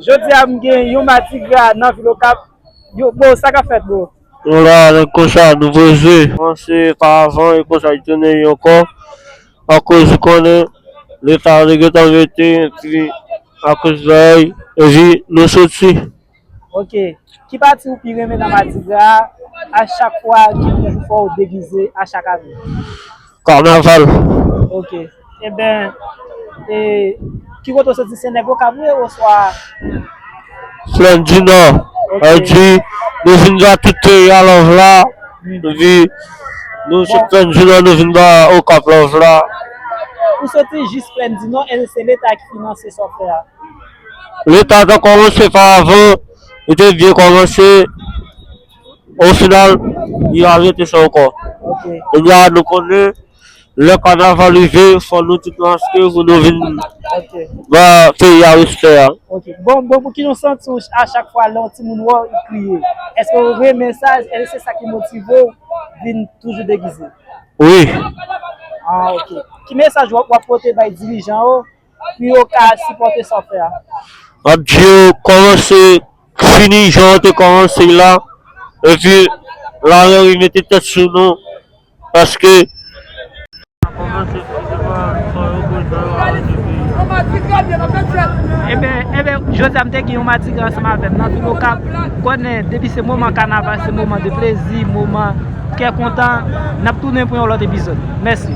Jodi a m gen yon madigra nan vil okap yo boo sa kap fèt boo. Nou la nèg konsa nou poze. Bon se pa avan e konsa li tounen yo ankò akoz ou konnen leta yo te gentan mete epi akoz lòy epi nou soti. Ok, ki pati ou pi renmen nan madigra a a chak fwa ki toujou fè w degize a chak ane? Kanaval. Ok, eben e ki kote ou soti se nèg okap ou ye oswa? Flann di nò, sa vle di nou vin ba tout peyi a love la, epi nou se flann di nò nou vin ba okap love la. Ou soti jis flann di nò e se leta ki finanse sa w fè a? Leta ta kòmanse pa avan, li te byen kòmanse, o final li al rete sa ankò. Kounye a nou konnen lè kanaval rive fò nou tout maske pou nou vin ba peyi a respè a. Ok bon bon pou ki nou santi w a chak fwa lè yon timoun wè w li kriye? Eske w renmen sa? Eske se sa ki motive w vin toujou degize? Wi. Ah ok. Ki mesaj w ap pote bay dirijan yo pou yo ka sipòte sa w fè a. M ap di yo kòmanse fini jan yo te kòmanse l la epi laranri mete tèt sou nou paske sa kòmanse fini se pa sa yo vle fè yo aranje peyi a. Enben jodi a m te gen yon madigra ansanm avè m nan vil okap konnen depi se moman kanaval se moman de plezi moman kè kontan n ap tounen pou yon lòt epizòd mèsi.